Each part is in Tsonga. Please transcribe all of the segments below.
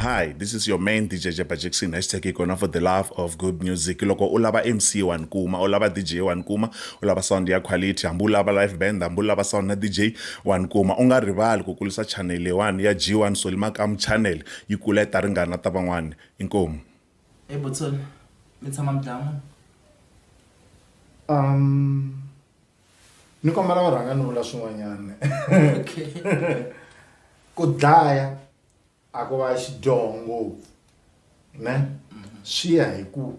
hi this is your main dj jeba jackson hashtag ikona for the love of good music loko u lava mc wa ni kuma u lava dj wa ni kuma u lava sound ya quality hambi u lava live band hambi u lava sound na dj wa ni kuma u nga rivali ku kulisa channel leyiwani ya g1 solimakamu channel Yi kula yi ta ringana ta van'wana. Inkomu. Hey Butson, mi tshama mi dlaya munhu? Um, ni kombela u rhanga ni vula swin'wanyana. Okay. Ku dlaya a ku va xidyoho ngopfu ne swi ya hi ku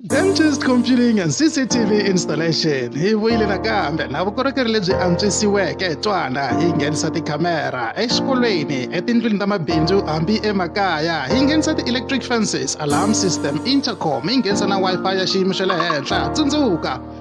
Dentist Computing and CCTV Installation hi vuyile nakambe na vukorhokeri lebyi antswisiweke hi twana hi nghenisa tikhamera exikolweni etindlwini ta mabindzu hambi emakaya hi nghenisa ti-electric fences alarm system intercom hi nghenisa na wi-fi ya xiyimo xa le henhla tsundzuka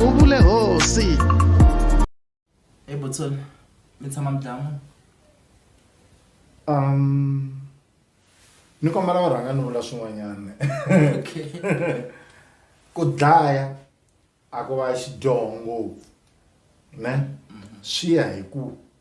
u vule hosi ebotson mi tshama mi dlaya munhu um ni kombela u rhanga ni vula swin'wanyana okay ku dlaya a ku va xidyoho ngopfu ne swi ya hi ku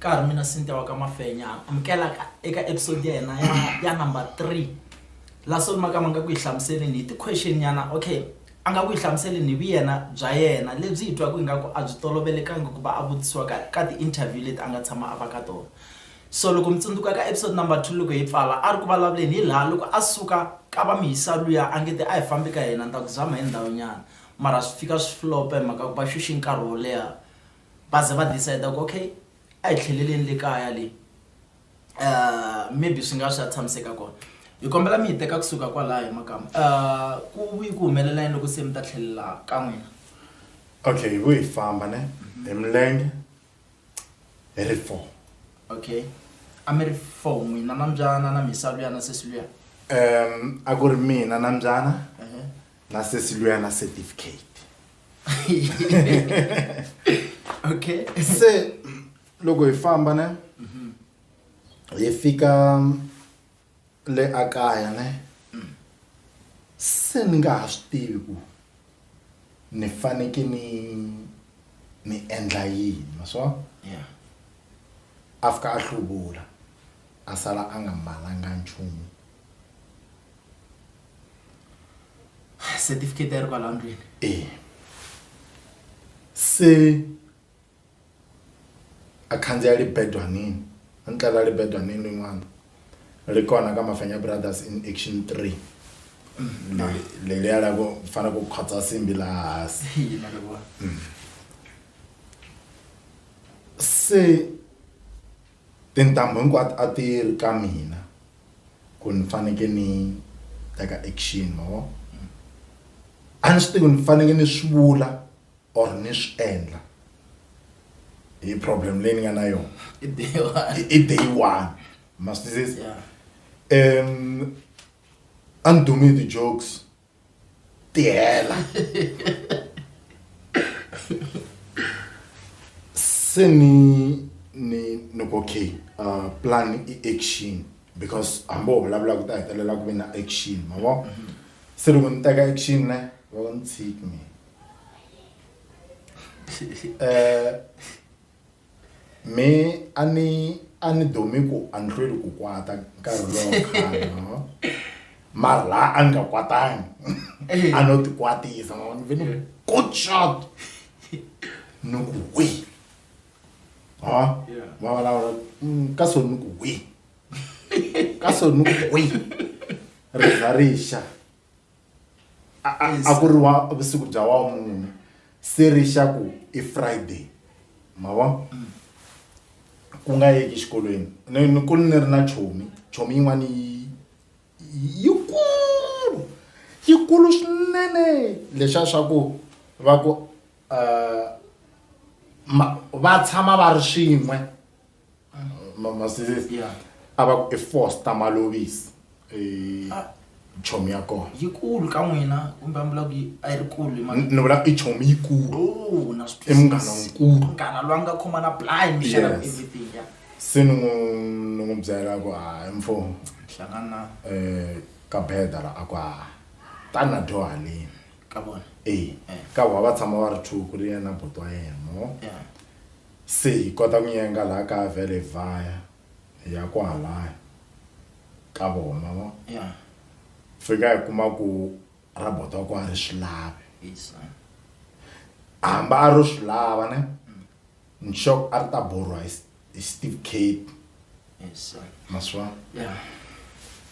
ka ha ri mina sintia wa ka mafenya amukela eka episode ya hina ya ya number three la solomaka ma nga ku yi hlamuseleni hi ti-question nyana okay A nga ku hi hlamuseleni hi vuyena bya yena lebyi hi twaka ingaku a byi tolovelekanga ku va a vutisiwa ka ka ti-interview leti a nga tshama a va ka tona. So loko mi tsundzuka ka episode number two loko hi pfala a ri ku vulavuleni hi laha loko a suka ka va Mhisa luya a nge te a hi fambi ka hina ni ta ku zama hi ndhawu nyana mara swi fika swi flop-a hi mhaka ku va xuxe nkarhi wo leha va ze va decide-a ku okay a hi tlheleleni le kaya le. uh, maybe swi nga swa tshamiseka kona hi kombela mi hi teka kusuka kwalaho makama uh, ku vuyi ku humelela yini loko se mi ta tlhelela ka n'wina okay hi vuyi famba ne mhm. hi milenge hi ri four okay a mi ri four n'wina na mbyana na misalu ya na sesi luya um a ku ri mina na mbyana uh-huh. na sesi luya na certificate okay se loko hi famba ne hi fika le a kaya ne se ni nga ha swi tivi ku ni faneke ni ni endla yini ma swa yeah a fika a hluvula a sala a nga mbalanga nchumu certificate ya ri kwala ndlwini eh se a khandziya libedwanini a ni tlela libedwanini rin'wana ri kona ka mafenya brothers in action three leliya la ku fana ku khotsa simbi laha hansi se tintambu hinkwato a ti ri ka mina ku ni faneke ni teka action ma vo a ni swi tivi ni faneke ni swi vula or ni swi endla hi problem leyi ni nga na yona I day one. i day one ma swi twisisa Yeah. um a ni dumi hi ti-jokes ti hela se ni ni ni ku okay uh, plan i action because hambi wo vulavula ku ta hetelela ku ve na action ma vo se loko ni teka action ne va ni tshiki mina eh me a ni a ni domi ku a ni hlweli ku kwata nkarhi lowo khale no mara laha a ni nga kwatangi a no ti kwatisa ma ni ve ni good shot ni ku wi ha va vulavula mm, ka so ni ku wi ka so ni ku wi ri za ri xa a- a- a ku ri wa vusiku bya wamune se ri xa ku i friday ma vona ku nga yeki exikolweni ni ni ku ni ri na chomi chomi yin'wana yi yi- yikulu yikulu swinene lexa swa ku va ku eh, ma- va tshama va ri swin'we masisi ya a va ku i foster malovisi i Ah. chomi ya kona yikulu ka n'wina kumbe a mbula ku yi- a yi ri kulu hi mhaka- Ni- ni vula i chomi yikulu Oh, na swi I munghana twisisa. nkulu. munghana loyi a nga khoma na blind mi xana Yes. everything ya se ni n'wi ni n'wi byela ku hayi mfumo hlangana eh ka beda la aku ha tana dyo halini ka vona eh ka wa va tshama va ri two ku ri yena buti wa yena mo yeah Se hi kota ku yenga laha ka vele hi vaya hi ya kwahalaya ka vona ma vo fika hi kuma ku robot wa kona a ri swi lavi hamba a ro swi lava ne ni sure ku a ri ta borhiwa hi hi Steve Cape ma swi vona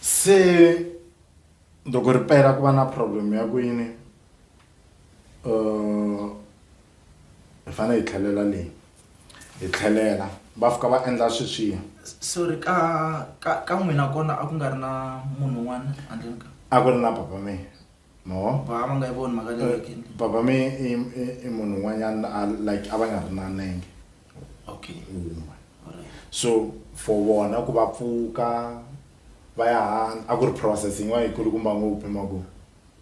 se loko ri pela ku va na problem ya ku yini uh, hi fanele hi tlhelela leyi hi tlhelela va fika va endla sweswiya sorry ka ka ka n'wina kona a ku nga ri na munhu un'wana handleni ka a ku ri na papa me mo va va nga yi voni mhaka leyi eh, papa me i i munhu un'wanyana a like a va nga ri na nenge okay un'we so for vona ku va pfuka va ya hana a ku ri process yin'wana yi kulukumba ngopfu hi mavoko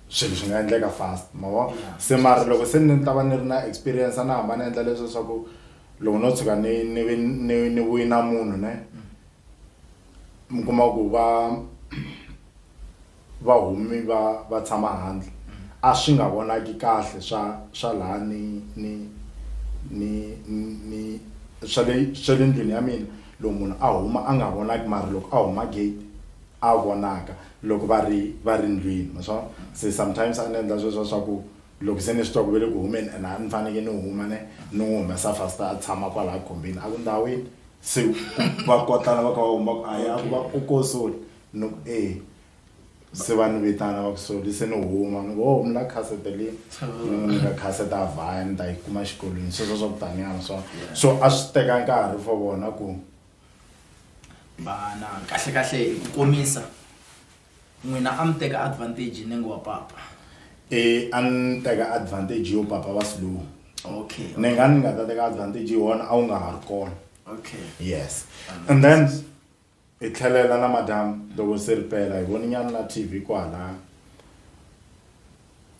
swilo swi nga endleka fast mavo se mara loko se ni ta va ni ri na experience a ni hamba ni endla leswi leswaku loko no tshuka ni ni ni ni vuyi na munhu ne mi kuma ku va va humi va va tshama handle a swi nga vonaki kahle swa swa laha ni ni ni ni swa le swa le ndlwini ya mina loko munhu a huma a nga vonaki mara loko a huma gate a vonaka loko va ri va ri ndlwini ma swa se sometimes a ni endla sweswo swa ku loko se ni swi twa ku ve le ku humeni and a ni faneke ni huma ne ni n'wi humesa fasta a tshama kwalaya khombini a ku ndhawini se va kotlana va kha va huma ku a ya ku va ku ko soli ni ku e se va ni vitana va ku soli se ni huma ni ku ho mi la khasete le ni n'wi nyika khasete a vhaya ni ta yi kuma xikolweni sweswo swa ku taniya ma swa so a swi teka nkarhi for vona ku vana kahle kahle hi ku komisa n'wina a mi teka advantage ni ngo wa papa e a ni teka advantage yo papa wa slow okay ni nga ni nga ta teka advantage yona a wu nga ha ri kona okay yes and then hi tlhelela na madam loko se ri pela hi voni nyana na tv kwala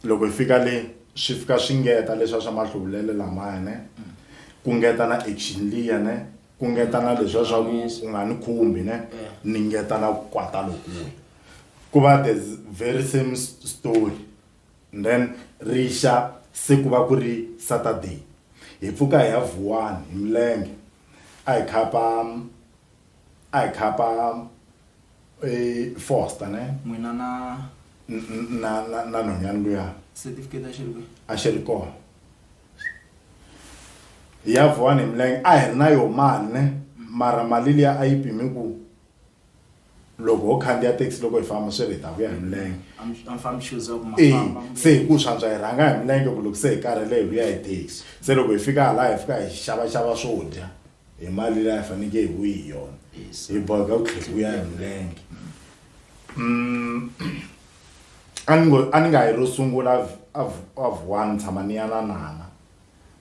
loko hi fika le swi fika swi ngeta leswiya swa mahluvulele lamaya ne mm. ku ngeta na action liya ne Ku ngeta na leswiya swa ku u nga ni khumbi ne ni ngeta na ku kwata lokuya ku va the very same story and then ri xa se ku va ku ri Saturday hi pfuka hi ya Vuwani hi milenge a hi khapa a hi khapa Foster ne n'wina na na na na nhwanyana luya certificate a xi ri kwihi a xi ri kona. hi ya vuwani hi milenge a hi ri na yo mane mara mali liya a yi pimi ku loko ho khandziya taxi loko hi famba sweswi hi ta vuya hi milenge e se hi ku swantswa hi rhanga hi milenge ku loko se hi karhele hi vuya hi taxi se loko hi fika hala hi fika hi xavaxava swo dya hi mali leyi a hi fanekele hi vuyi hi yona hi boheka ku tlhela ku ya hi milenge Mm, a ni ngo a ni nga yi ro sungula av- av- avuwani tshama ni ya na nana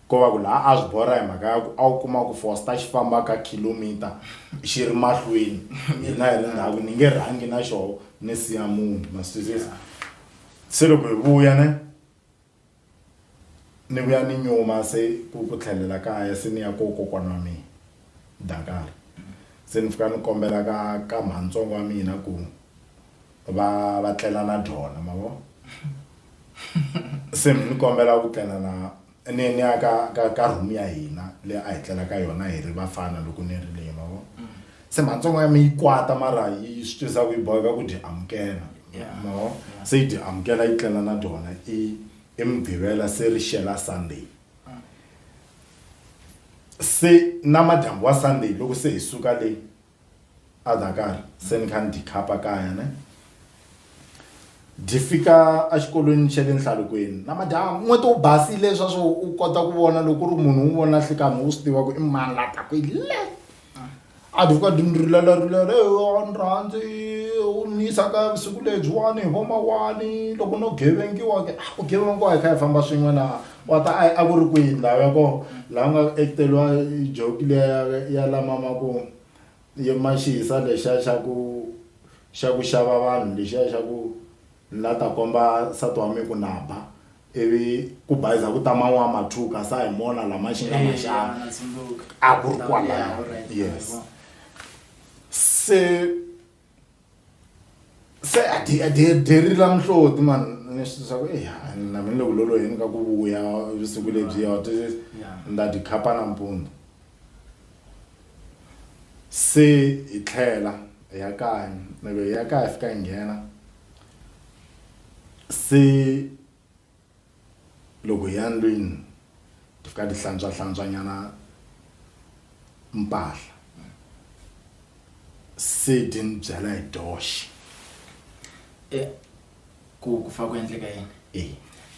ko va ku laha a swi borha hi mhaka ya ku a wu kuma ku fosta xi famba ka kilomita xi ri mahlweni hina hi ri ndhaku ni nge rhangi na xoho ni siya munhu masizisi se loko hi vuya ne ni vuya ni nyuma se ku ku tlhelela kaya se ni ya ko kokwana wa mina Dakar se ni fika ni kombela ka ka mhanintsongo wa mina ku va va tlela na dyona ma vo se ni kombela ku tlela na ni ni ya ka ka ka room ya hina leyi a hi tlela ka yona hi ri vafana loko ni ri le ma vo. se matsongo ya mi yi kwata mara yi swi twisa ku yi boheka ku dyi amukela no se yi dyi amukela yi tlela na dyona i i mugqivela se ri xela sunday se namadyambu wa sunday loko se hi suka le adakar se ni kha ni dikhapa kaya ne di fika exikolweni xa le nhlalukweni namadyambu n'weti wu basile swa swo u kota ku vona loko u ri munhu un'wana na nhlikanhi u swi tiva ku i mani la taka hi le a dvuka dundrulalarulare on rhandzi u ni yisaka vusiku lebyiwani hi vomawani loko no gevengiwa ke a ku gevengiwa hi kha hi famba swin'we na wa ta a ku ri kwihi ndhawu ya kona laha nga acteriwa joki leya ya lamama ku yemaxihisa lexiya xa ku xa ku xava vanhu lexiya xa ku Ni la ta komba nsati wa mi ku na ba, ivi ku bayiza ku ta mani wa Mathuka, sa hi mona la ma xinga ma xana. A ku ri kwalano. Yes. Se se a dye a dye dyeri la mihloti man ni swi swa ku eya na mina ni le ku loloheni ka ku vuya vusiku lebyiya wa twisisa ni ta dyi khapa nampundzu. se hi tlhela hi ya kaya loko hi ya kaya hi fika hi nghena se loko hi ya ndlwini hi fika hi hlantswa hlantswa nyana mpahla se hi ti ni byela hi toxe. ku ku fa ku endleka yini e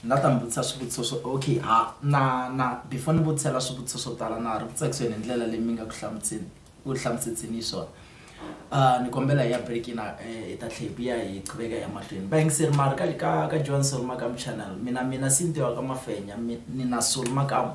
ni nga ta mi vutisa swivutiso swo okay ha na na before ni vutisela swivutiso swo tala na ha ri ku tsakiseni hi ndlela leyi mi nga ku hlamuseni ku hlamusetseni hi swona Ah, ni kombela hi ya break na eh, hi ta tlhe hi vuya hi qhubeka ya mahlweni bayingiseri mari ka ka ka joan solomakamu channel mina mina sintiwa ka mafenya mi- ni na solomakamu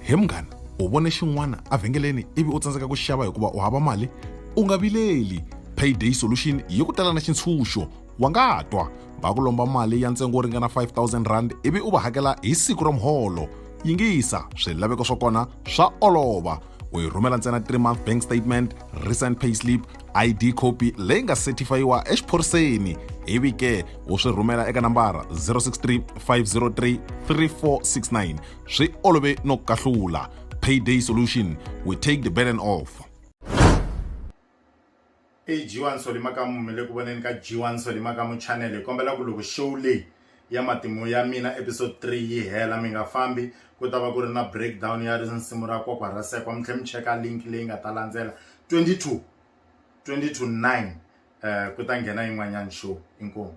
He munghana, u vone xin'wana evhengeleni ivi u tsandzeka ku xava hikuva u hava mali? U nga vileli, Payday Solution yi ku tela na xintshunxo. Wa nga twa va ku lomba mali ya ntsengo wo ringana R5000 ivi u va hakela hi siku ra muholo. Yingisa, swilaveko swa kona swa olova. U yi rhumela ntsena three month bank statement, recent payslip, id copy leyi nga setifayiwa exiphoriseni ivi ke u swi rhumela eka nambara 063 503 3469 swi olove no kahlula payday solution we take the burden off ag1 solimakamu mi le ku voneni ka g1 solimakamu channel hi kombela ku loko show leyi ya matimu ya mina episode 3 yi hela mi nga fambi ku ta va ku ri na breakdown ya risimu ra kokwa ra sekwa mi tlhe mi cheka link leyi nga ta landzela 22 22 9 um ku ta nghena yin'wanyana show inkomu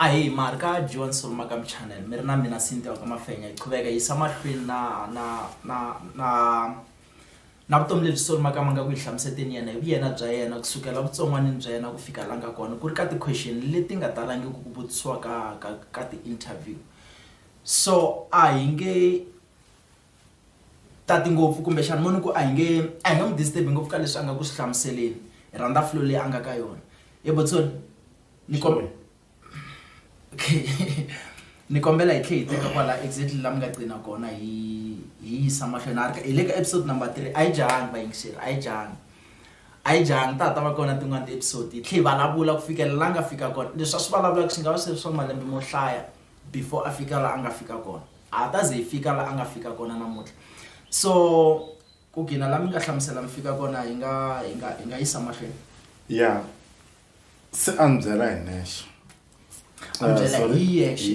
ahi mari ka john soloma ka mchannel mi ri na mina sintiwa ka mafenya hi qhuveka yisa mahlweni na na na na na vutomi lebyi soloma ka ma nga ku yi hlamuseteni yena hi vuyena bya yena kusukela vutsongwanini bya yena ku fika la nga kona ku ri ka ti-question leti nga talangi ku ku vutisiwa ka ka ka ti-interview so a hi nge tati ngopfu kumbexana mo ni ku a hi nge a hi nga n'wi disturb ngopfu ka leswi a nga ku swi hlamuseleni hi rhandza flow leyi a nga ka yona ye botsoni ni kombela okay ni kombela hi tlhe hi teka kwala exactly la mi nga qina kona hi hi yisa mahlweni a ri hi le ka episode number three a yi jahangi vayingiseri a yi jahangi a yi jahangi ta ta va kona tin'wana ti-episode hi tlhe hi vulavula ku fikela la nga fika kona leswi a swi vulavulaka swi nga va swi ri swa malembe mo hlaya before a fika la a nga fika kona a ha ta ze hi fika la a nga fika kona namuntlha so ku gina la mi nga hlamusela mi fika kona hi nga hi nga hi nga yisa mahlweni ya se a ni byela hi nexe a ni byela hi yexe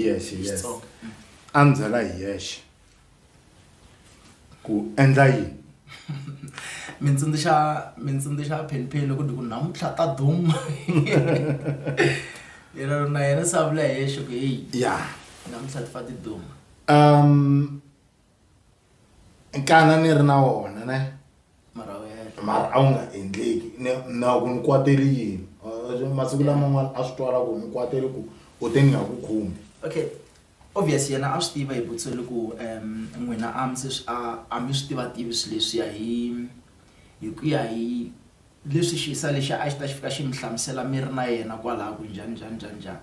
a ni byela hi yexe ku endla yini mi tsundzuxa mi tsundzuxa phenpheni loko ku namuntlha ta duma yena na yena se a vula hi yexe ku heyi ya namuntlha ti fa ti duma um nkana ni ri na wona ne mara a wu nga endleki na ku ni kwateli yini masiku laman'wana a swi twala ku ni kwateli ku u te ni nga ku khumbi okay Obvious yena a swi tiva hi Butsweli ku um n'wina a mi se swi a a mi swi tiva tivi swi leswiya hi hi ku ya hi leswi xisa lexiya a xi ta xi fika xi mi hlamusela mi ri na yena kwalaya ku njhani njhani njhani njhani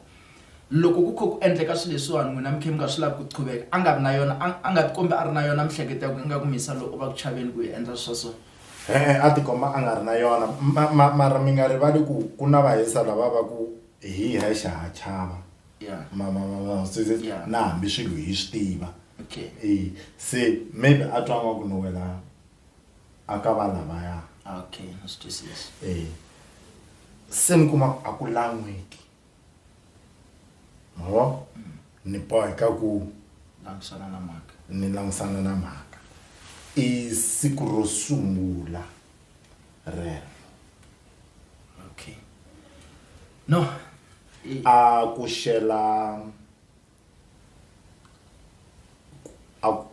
loko ku kha ku endleka swi leswiwani n'wina mi kha mi nga swi lavi ku qhuveka a nga ri na yona a a nga ti kombi a ri na yona mihleketo ya ku ingaku mi yisa loyi u va ku chaveni ku hi endla swa so e-e a ti komba a nga ri na yona ma ma mara mi nga rivali ku ku na vahisa lava va ku hi hexe ha chava. Yeah. ma ma ma ma se se Yeah. na hambi swilo hi swi tiva Okay. Eh, se maybe a twa nga ku no wena a ka va lavaya Ah, Okay, na swi twisisa. eh se ni kuma a ku lan'weki ma vo ni boheka ku Langisana na mhaka. ni langisana na mhaka i siku ro sungula rero no a ku xela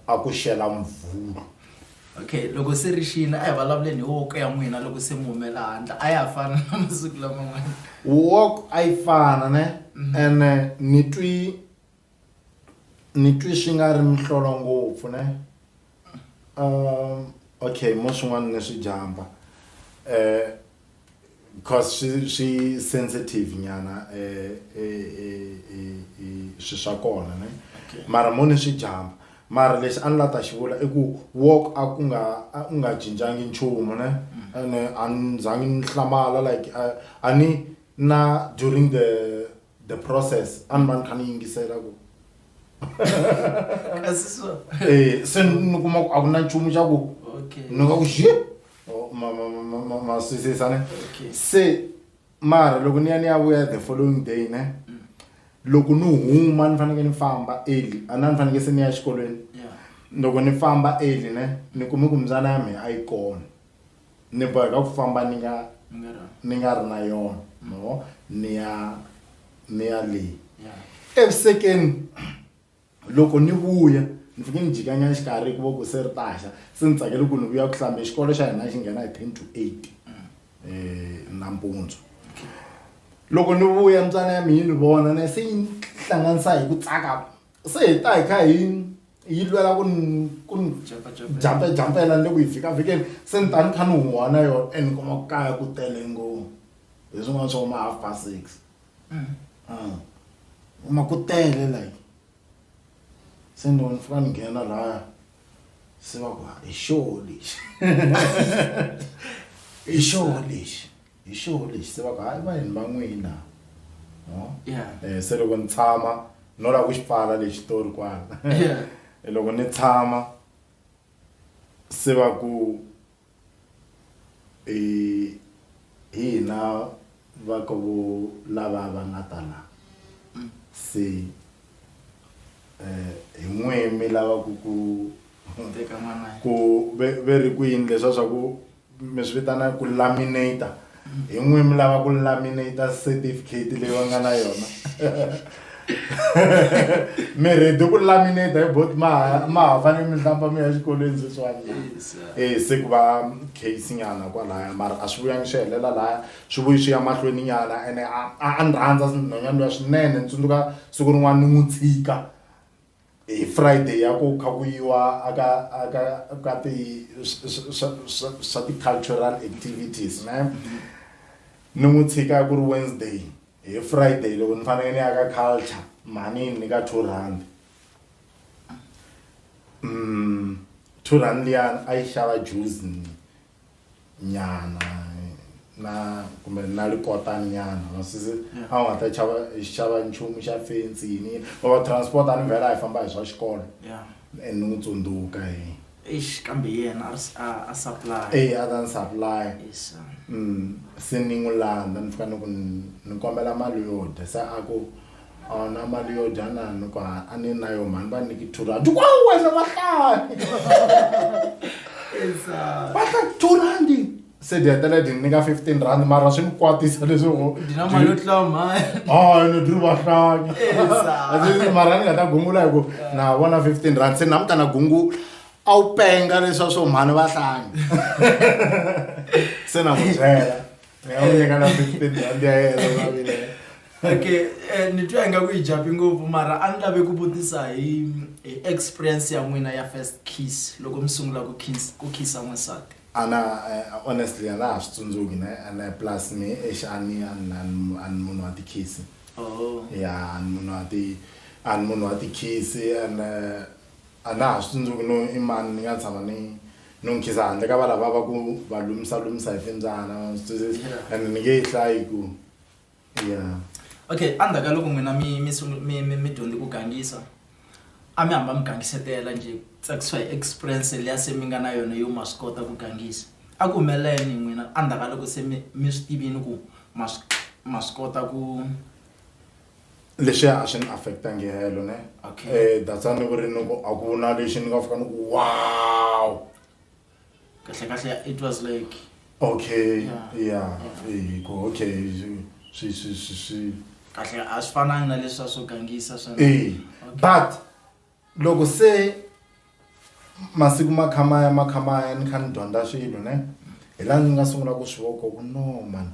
a ku xela mvulu okay loko se ri xile a hi vulavuleni hi woko ya n'wina loko se mi humela handle a ya ha fana na masiku laman'wana woko a yi fana ne mhm. ene ni twi ni twi swi nga ri mihlolo ngopfu ne um okay mo swin'wana ni swi jump-a um because swi swi sensitive nyana um swi swa kona ne mara mo ni swi jump-a mara lexi a ni la ta xi vula i ku walk a ku nga a u nga cincangi nchumu ne ene a ni za ngi ni hlamala like a a ni na during the. the process a ni va ni kha ni yingisela ku kasi so Eh, se ni kuma ku a ku na nchumu xa ku okay ni nga ku xi maswisisane okay se mara loko ni ya ni ya vuya the following day ne loko ni huma ni fanekele ni famba early a na ni fanekele se ni ya exikolweni yeah loko ni famba early ne ni kume ku mbyana ya mina a yi kona ni boheka ku famba ni nga ni nga ri na yona no ni ya ni ya leyi evusekeni loko ni vuya ni fike ni jikanyana xikarhi hikuva ku se ri taxa se ni tsakele ku ni vuya ku hlambe xikolo xa hina xi nghena hi ten to eight um nampundzu loko ni vuya mbyana ya mina yi ni vona na se yi ni hlanganisa hi ku tsaka se hi ta hi kha hi yi lwela ku ku jampe jampela ni le ku yi vhikavhikeni se ni ta ni kha ni huwa na yona and ni kuma ku kaya ku tele ngopfu hi swin'wana swa ma half past six mm. ah. uma ku tele like se ni ni fika ni nghena laya se va ku hi xoho lexi hi xoho lexi hi xo lexi se va ku hayi vanhwini va n'wina no um se loko ni tshama no lava ku xi pfala lexi xitori kwala loko ni tshama se va ku hi hina va ka vo lava va nga ta la mm. se um hi n'we mi lava ku ku ku ve ri kwini leswa swa ku mi swi vitana ku laminator hi n'wi mi lava ku laminator certificate leyi va nga na yona mi ready ku laminator hi bot ma ma ha fanele mi hlamba mi ya xikolweni sweswiwani e se ku va case nyana kwalaya mara a swi vuyangi swi helela laya swi vuyi swi ya mahlweni nyana ene a a ni rhandza nhwanyana luya swinene ni tsundzuka siku rin'wana ni n'wi tshika hi Friday ya ku kha ku yiwa aka aka ka ti swa ti cultural activities ne ni n'wi tshika ku ri Wednesday hi Friday loko ni fanele ni ya ka culture mhani ni ka two rand mm two rand liyani a yi xava juice ni nyana na kumbe na likotani nyana masisi a nga ta chava xava nchumu xa fensi yini va va transport a ni vhela hi famba hi swa xikolo yeah and ni n'wi tsundzuka hi eish kambe yena a s- a a supply e a ta ni supply yes sir. Mm, se ni n'wi landza ni fika ni ku ni- ni kombela mali yo dya se a ku Ona mali yo dya na ni ku a ni na yo mhani va niki two rand kwa wena va hlaya va hla two rand se di hetela di nyika fifteen rand mara swi ni kwatisa leswaku ni dri va hlanya eh, mara ni nga ta gungula hi ku na vona fifteen rand se na mutana gungula a wu penga leswa swo mhani va hlanya se na ku byela nga n'wi nyika na fifteen rand ya yena mavile okay eh, ni twa ingaku yi japi ngopfu mara a ni lave ku vutisa hi hi experience ya n'wina ya first kiss loko mi sungula ku kiss ku kissa n'wansati ana eh, honestly a na ha swi tsundzuki ne ene plus ni exi a ni a ni- a ni- a ni munhu wa tikhisi oh ya a ni munhu wa ti a ni munhu wa tikhisi ene a na ha swi tsundzuki no i mani ni nga tshama ni no nkhiza handle ka valava va ku va lumisa lumisa hi timbyana and ni nge yi hlayi ku ya okay endzhaku ka loko n'wina mi mi mi mi mi dyondze ku gangisa a mi hamba mi gangisetela njhe tsakisiwa hi experience leya se mi nga na yona yo ma swi kota ku gangisa a ku humelela yini n'wina endzhaku ka loko se mi mi swi tivini ku ma swi ma swi kota ku leswiya a swi ni affectangi helo ne Okay. Eh, that's why ni ku ri ni ku a ku na lexi ni nga fika ni ku wow kahle kahle it was like okay Yeah. yeah eh, ku okay swi- swi swi swi swi kahle a swi fanangi na leswi a swo gangisa swa eh Okay. but loko se masiku ma kha ma ya ma kha ma ya ni kha ni dyondza swilo ne hi laha ni nga sungula ku swi vona ku no mani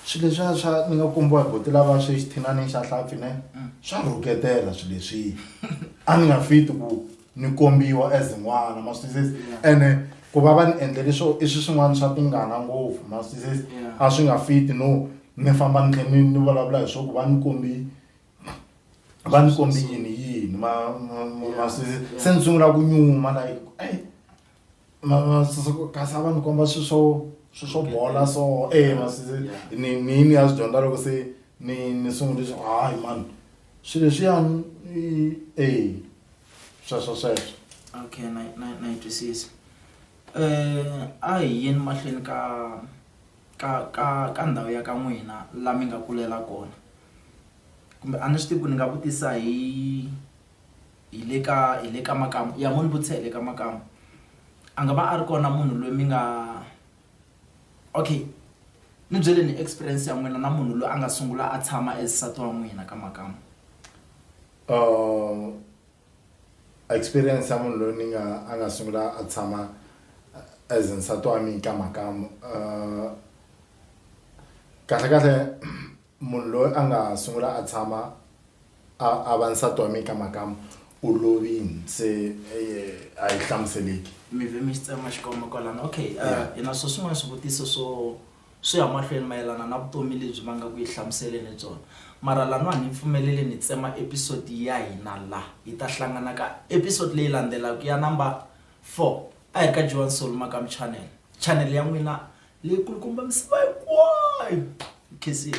swilo leswiya swa ni nga kombiwa hi buti lava swi xithinani xa hlampfi ne swa rhuketela swilo leswiya a ni nga fit ku ni kombiwa as n'wana ma swi twisisa ene ku va va ni endle leswo i swilo swin'wana swa tingana ngopfu ma swi twisisa a swi nga fit no ni famba ni kha ni ni vulavula hi swa ku va ni kombi va ni kombi yini yini ma ma ma ma se se ni sungula ku nyuma like ei ma ma se se ku kasi a va ni komba swi swo swi swo bola so e ma se se ni ni ni ya swi dyondza loko se ni ni sungule swa hayi mani swilo leswiyani i e sweswo sweswo okay na na na yi twisisa um a hi yeni mahlweni ka ka ka ka ndhawu ya ka n'wina la mi nga kulela kona kumbe a ni swi tivi ku ni nga vutisa hi hi le ka hi le ka makamu ya mo ni vutisa hi le ka makamu a nga va a ri kona munhu loyi mi nga okay ni byeleni experience ya n'wina na munhu loyi a nga sungula a tshama as nsati wa n'wina ka makamu . Experience ya munhu loyi ni nga a nga sungula a tshama as nsati wa mina ka mhaka kahle kahle munhu loyi a nga sungula a tshama a va nsati wa mina ka mhaka u lovini se a yi hlamuseleki. Mi ve mi xi tsema xikomba kwalano okay hi na swo swin'wana swivutiso swo. swi ya mahlweni mayelana na vutomi lebyi va nga ku yi hlamuseleni byona mara lano a ni pfumeleli ni tsema episode ya hina la hi ta hlangana ka episode leyi landzelaka ya number four a hi ka Joan Soul Makam channel channel ya n'wina leyi kulukumba misava hinkwayo khensile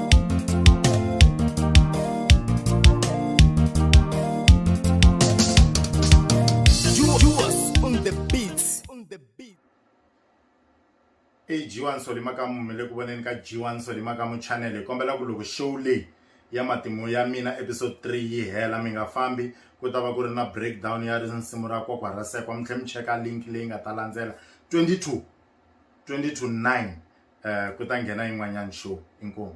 i g1 solimakamu mi le ku voneni ka g1 solimakamu channel hi kombela ku loko show leyi ya matimu ya mina episode 3 yi hela mi nga fambi ku ta va ku ri na breakdown ya risimu ra kokwa ra sekwa mi tlhe mi cheka link leyi nga ta landzela 22 22 9 eh, ku ta nghena yin'wanyana show inkomu